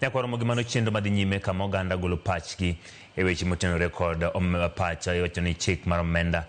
Nyakwaro Mogi mano chenro madhi nyime kama oganda golo pachgi e weche motenore kod om- pach iwacho ni chik mar omenda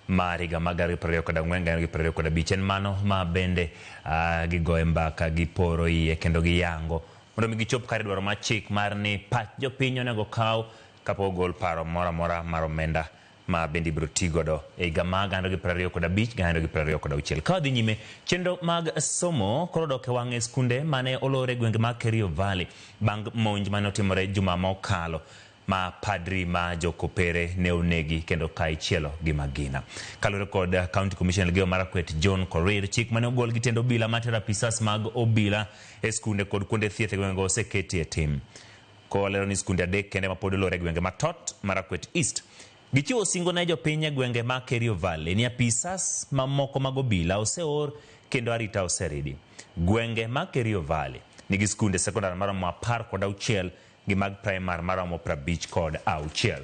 mar higa mag gana gi piero ariyo kod ang'wen gana gi piero ariyo kod abich en mano ma bende ah, gigoye mbaka giporo iye kendo giyango mondo mi gichop kare dwaro mar chik mar ni pach jopiny onego kaw kapok ogol paro moro amora mar omenda ma bende ibiro ti godo e higa ma gana ariyo gi piero ariyo kod abich gana ariyo gi piero ariyo kod auchiel. Ka wadhi nyime, chenro mag somo koro odok e wang'e skunde mane olor e gwenge mag Kerio Valley bang' monj mane otimore juma mokalo ma padri ma jokopere ne onegi kendo ka ichielo gi magina. Kaluwore kod County Commissioner Elgeyo Marakwet John Korir, chik mane ogol gi tend obila matero apisas mag obila e skunde kod kuonde thieth e gwengego oseketi e tim. kolero ni skunde adek kende mapod olor e gwenge ma Tot, Marakwet East. Gichiwo singo ne jopiny e gwenge ma Kerio Valley ni apisas mamoko mag obila oseor kendo arita oseridi. Gwenge ma Kerio Valley nigi skunde sekondar maromo apar kod auchiel gi mag praimar maromo prabich kod auchiel.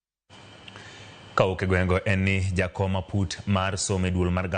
Kawuok e gweng'go en ni jakom aput mar somo e duol mar